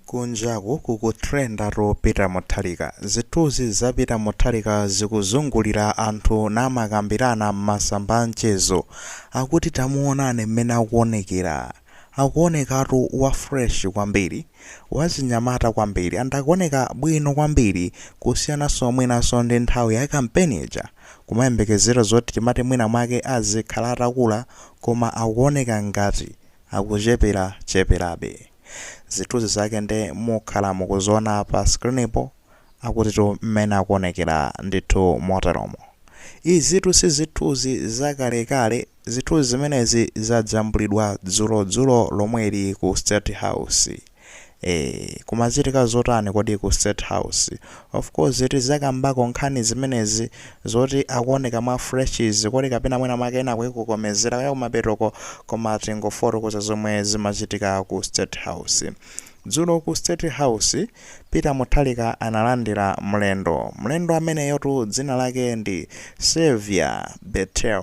Kunjaku kuku trend atu Peter Mutharika. Zithuzi za Peter Mutharika zikuzungulira anthu namakambirana m'masamba amchezo. Akuti tamuonani mmene akuonekera. Akuonekatu wa fresh kwambiri. Wachinyamata kwambiri and akuoneka bwino kwambiri kusiyananso mwinanso ndi nthawi ya campaign ija. Kumayembekezera zoti timati mwina mwake azikhala atakula koma akuoneka ngati. akuchepera cheperabe. zithuzi zake nde mukhala mukuziona pa screen po akutitu mmene akuonekera ndithu moteromo izitu si zithuzi za kalekale zithuzi zimenezi zajambulidwa dzulo dzulo lomweli ku state house. Eee kumachitika zotani kodi ku state house? Of course tizakambako nkhani zimenezi zoti akuoneka mwa fresh zi kodi kapena mwina mwake ena akuikokomezera kaya kumapetoko koma tingofotokoza zomwe zimachitika ku state house. Dzulo ku state house Peter Mutharika analandira mlendo. Mlendo ameneyotu dzina lake ndi Xavier Bettel.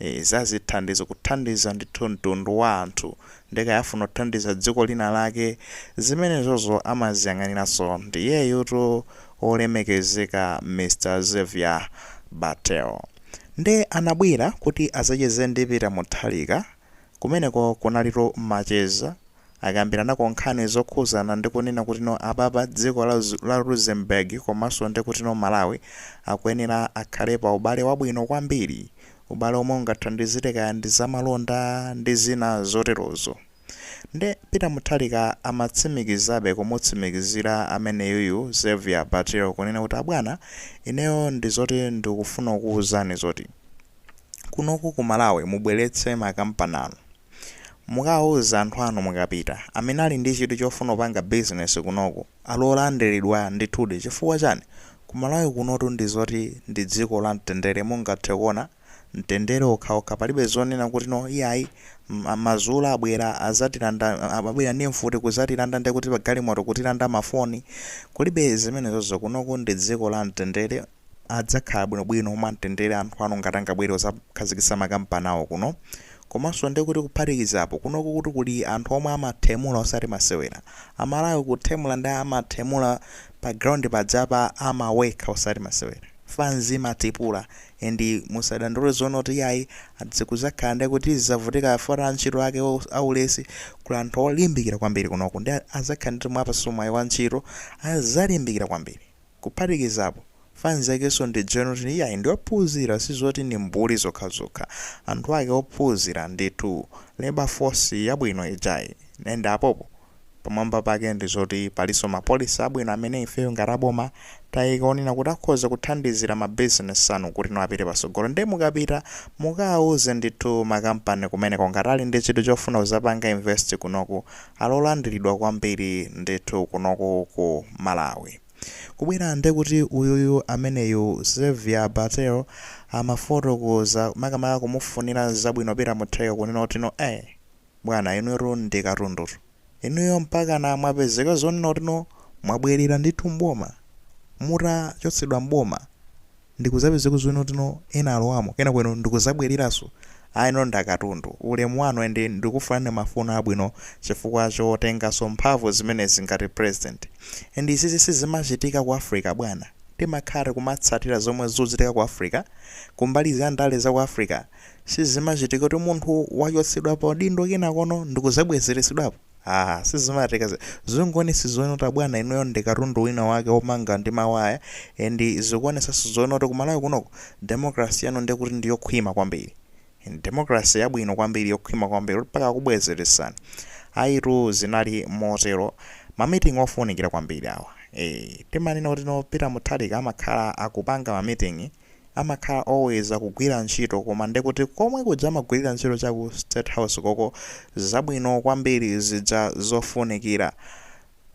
Eee zazithandizo kuthandiza ndithu mtundu wa anthu nde kaya afuna kuthandiza dziko lina lake zimenezozo amaziyang'aniranso ndi iyeyutu olemekezeka Mr Xavier Bettel nde anabwera kuti azacheze ndi Peter Mutharika kumeneko kunalitu macheza akambiranako nkhani zokhuzana ndi kunena kuti no apapa dziko la la Luxembourg komaso ndi kuti no Malawi akuyenera akhale pa ubale wabwino kwambiri ubale omwe ungathandizire kaya ndi za malonda ndi zina zoterozo nde Peter Mutharika amatsimikizabe kumutsimikizira ameneyuyu Xavier Bettel kunena kuti abwana ineyo ndi zoti ndikufuna kukuuzani zoti kunoku ku Malawi mubweretse ma kampani anu Mukawauze anthu anu mukapita. Amene ali ndi chidwi chofuna kupanga business kunoku ali olandilidwa ndithudi chifukwa chani? Ku Malawi kunotu ndi zoti ndi dziko la mtendere mungathe kuona mtendere okhaokha palibe zonena kuti no iyayi ma Zulu abwera azatilanda abwera ndi mfuti kuzatilanda ndikuti pa galimoto kutilanda ma phone kulibe zimenezozo kunoku ndi dziko la mtendere adzakhala bwinobwino mwamtendere anthu anu ngati angabwere kuzakhazikisa makampani awo kuno komanso ndekuti kuphatikiza apo kunokutu kuli anthu omwe amathemula osati masewera amalawi kuthemula nde amathemula pa ground pajapa amawekha osati masewera fanz imatipula and musadandaule zonena kuti iyayi ati zikuzakhala ndekuti tizizavutika chifukwa cha antchito ake aulesi kuli anthu olimbikira kwambiri kunoku nde azakhala kuti mwawapatsa mwayi wa ntchito azalimbikira kwambiri Kuphatikiza apo, fans yakenso ndi a gentle iyayi ndiophunzira sizoti ndi mbuli zokhazokha. Anthu ake ophunzira ndithu. Labour force yabwino ijayi. And apopo pamwamba pake ndizoti palinso ma policy abwino amene ifeyo ngati aboma taika onena kuti akhoza kuthandizira ma business anu kutino apite patsogolo nde mukapita mukauze ndithu ma company kumeneko ngati ali ndi chidwi chofuna kuzapanga invest kunoku ali olandiridwa kwambiri ndithu kunoku ku Malawi. Kubwera ndekuti uyuyu ameneyu Xavier Bettel amafotokoza makamaka kumufunira zabwino Peter Mutharika kunena kutino ee bwana inuyotu ndi katundutu. Inuyo mpakana mwapezeka zonena kutino mwabwerera ndithu m'boma mutachotsedwa m'boma. ndikuzapezeka zonena kutino ena alowamo kenako inu ndikuzabweleraso ayi inu ndi akatundu ulemu wanu and ndikufunirani mafuno abwino chifukwa chotengaso mphamvu zimenezi ngati president and izizi sizimachitika ku Africa bwana timakhala tikumatsatira zomwe zikuchitika ku Africa kumbali za ndale zaku Africa sizimachitika kuti munthu wachotsedwa paudindo kenakono ndikuzabwezeretsedwapo Aaa sizimatheka zi- zikuonetsa zonena kuti abwana inuyo ndi katundu wina wake womanga ndi mawaya and zikuonetsanso zonena kuti kumalawi kunoko democracy yanu ndekuti ndi yokhwima kwambiri And democracy yabwino kwambiri yokhwima kwambiri mpaka kubwezeretsani ayitu zinali motero ma meeting ofunikira kwambiri awa eh timanena kuti no peter mutharika amakhala akupanga ma meeting amakhala always akugwira ntchito koma ndekuti komwe kuja amagwilira ntchito cha ku state house koko zabwino kwambiri zija zofunikira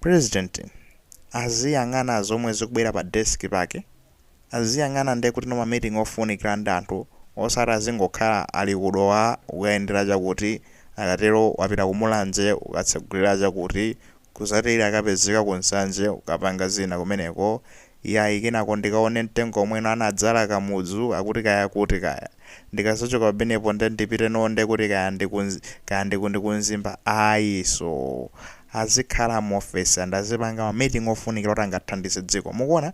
president aziyang'ana zomwe zikubwera pa desk pake aziyang'ana ndekutino ma meeting ofunikira ndi anthu osati azingokhala ali ku Dowa kukayendera chakuti akatero wapita ku Mulanje kukatsegulira chakuti Kusati akapezeka ku Nsanje kukapanga zina kumeneko, yayi kenako ndikaone mtengo umwe uno anadzala Kamudzu akuti kaya kuti kaya. Ndikazachoka pamenepo nde ndipite no nde kuti kaya ndi ku kaya ndi ku ndi ku Mzimba ayi so azikhala mu office and azipanga ma meeting ofunikira kuti angathandize dziko. Mukuona?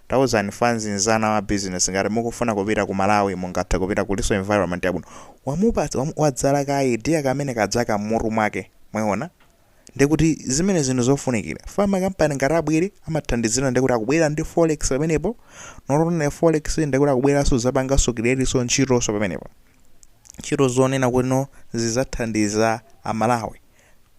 Tauzani fanzi nzanga wa business ngati mukufuna kupita ku Malawi mungathe kupita kuliso environment yabwino. Wamupatsa wamu wadzala ka idea kamene kadzaka mmutu mwake. Mwaona? Ndekuti zimenezi nzinthu zofunikira. Chifukwa ma company ngati abwere amathandizira ndekuti akubwera ndi forex pamenepo, not only forex ndekuti akubweraso kudzapangaso createso ntchitoso pamenepo. Ntchito zonena kuti no zidzathandiza a Malawi.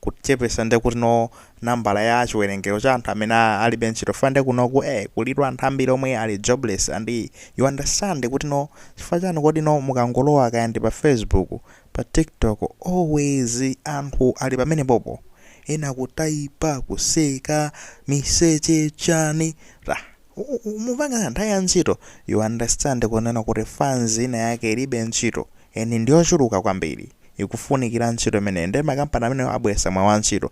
Kuchepesa ndekuti no nambala ya chiwerengero cha anthu amene alibe ntchito chifukwa nde kunoku ee kulitu anthu ambiri omwe ali jobless and you understand kuti no chifukwa chani kodi no mukangolowa kaya ndi pa facebook pa tiktok always anthu ali pamenepopo ena kutaipa kuseka miseche chani rah Mupanga nthawi ya ntchito, you understand kunena kuti fans ina yake ilibe ntchito, and ndiyochuluka kwambiri, ikufunikira ntchito imeneyo, ndiye makampani amenewo abweresa mwayi wa ntchito,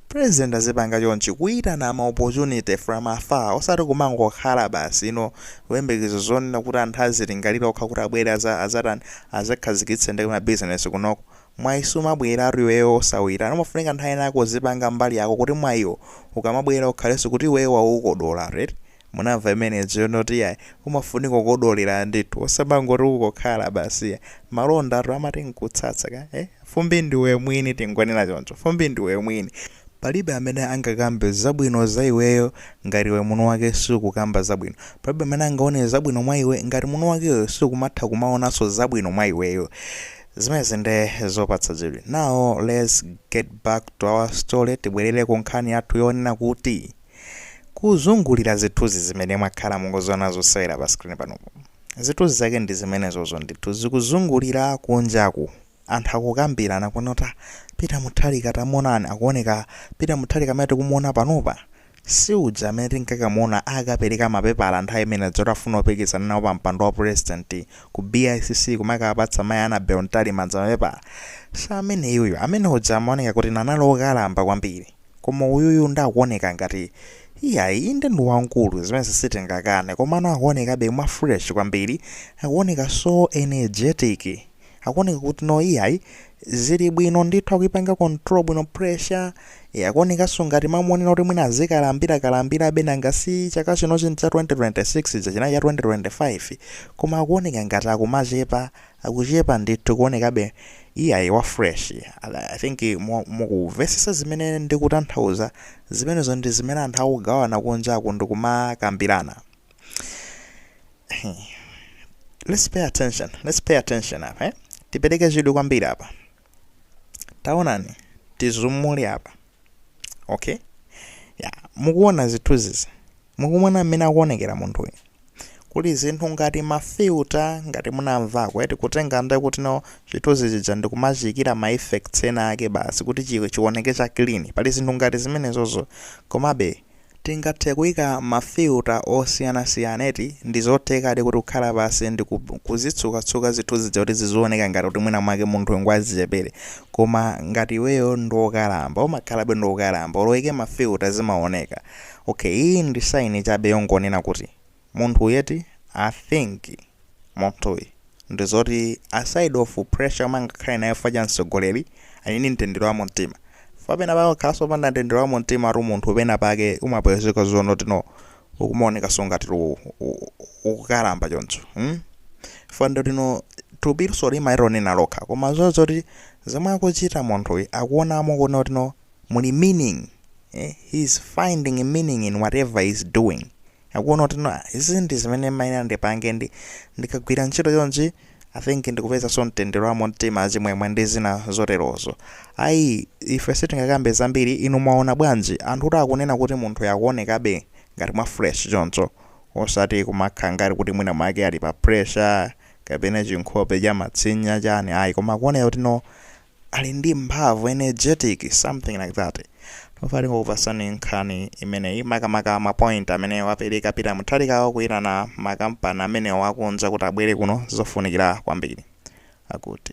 president azipanga chonchi, kuitana ma opportunity from afar, osati kumangokhala basi you know kuyembekeza zonena kuti anthu azilingalira okha kuti abwere azatani, azakhazikitse ndi ma business kunoko, Mwayi sumabweratu iweyo osauitana. Pamafunika nthawi yina yake uzipanga mbali yako kuti mwayiwo ukamabwera ukhalenso kuti iweyo waukodolatu eti. Munamva imeneyo zonena kuti iyayi. Umafunika kukodolera ndithu. Osamangoti ungokhala basi iyayi. Malondatu amati nkutsatsa ka eh. Fumbi ndiwe mwini tingonena choncho. Fumbi ndiwe mwini. Palibe amene angakambe zabwino za iweyo ngati iwe mwini wake sukukamba zabwino. Palibe amene angaone zabwino mwa iwe ngati mwini wakeyo sukumatha kumaonanso zabwino mwa iweyo. Zimenezi ndi zopatsa chidwi. Now let's get back to our story, tibwelere ku nkhani yathu yonena kuti kuzungulira zithuzi zimene mwakhala mukuziona zosewera pa screen panupo. Zithuzi zake ndi zimenezozo ndithu zikuzungulira kunjaku anthu akukambirana kunena kuti ah Peter Mutharika tamuonani akuoneka Peter Mutharika amene tikumuona panopa Si uja amene tinkakamuona akapeleka ma pepala nthawi imene ija yoti afuna kupikisana nawo pa mpando wa president ku BICC kumakawapatsa mayi Annabel Mtalimanja ma pepala? Si ameneyuyu, amene uja amaoneka kuti no anali okalamba kwambiri. Koma uyuyu nde akuoneka ngati iyayi inde ndi wamkulu zimenezi sitingakane komano akuonekabe mwa fresh kwambiri, akuoneka so energetic. akuoneka kuti no iyayi zili bwino ndithu akuipanga control bwino pressure akuonekanso ngati mamuonera kuti mwina azikalambira kalambirabe nanga si chaka chino chinthu cha 2026 chija chinali cha 2025 koma akuoneka ngati akumachepa akuchepa ndithu kuonekabe iyayi wa fresh i think mu- mukuvesesa zimene ndikutanthauza zimenezo ndi zimene anthu akugawana kunjaku ndikumakambirana let's pay attention let's pay attention apa eh? tipereke chidwi kwambiri apa taonani tizumule apa okay ya mukuona zithunzizi mukuona mmene akuonekera munthu uyu kuli zinthu ngati mafilter ngati munamvako eti kutenga nde kuti no chithunzi chija ndikumachiyikira ma effects ena ake basi kuti chi- chioneke cha clean pali zinthu ngati zimenezozo komabe Tingathe kuika ma filter osiyanasiyana eti, ndizothekadi kuti kukhala pansi ndi kuzitsukatsuka zithunzi zija kuti zizioneka ngati kuti mwina mwake munthu uyu ngwachichepere koma ngati iweyo ndiokalamba umakhalabe ndiokalamba olo uike ma filter zimaoneka. Okay iyi ndi sign chabe yongonena kuti. Munthuyi eti I think munthuyi ndizoti aside of pressure imene angakhale nayo chifukwa cha mtsogoleri ali ndi mtendere wa mumtima chifukwa pena pake ukakhalanso wopanda mtendere wa mumtimatu munthu pena pake umapezeka zonoti no ukumaonekanso ngati lu- u- u- ukukalamba choncho mm? chifukwa ndoti no thupiso limayironena lokha koma zo- zoti zomwe akuchita munthuyi akuonamo kuona kuti no muli meaning eh? he is finding a meaning in whatever he is doing akuona kuti no izi ndi zimene ndimayenera ndipange ndi ndikagwira ntchito chonchi i think ndikupezanso mtendere wa mumtima chimwemwe ndi zina zoterozo ayi ife sitingakambe zambiri inu mwaona bwanji anthu kuti akunena kuti munthuyu akuonekabe ngati mwa fresh choncho osati kumakhala ngati kuti mwina mwake ali pa pressure kapena chinkhope cha matsinya chani ayi koma akuoneka kuti no ali ndi mphamvu energetic something like that timafuna tingokupatsani nkhani imeneyi makamaka mapoint amene wapereka Peter Mutharikawo kuyitana makampani amenewa akunja kuti abwere kuno zofunikira kwambiri akuti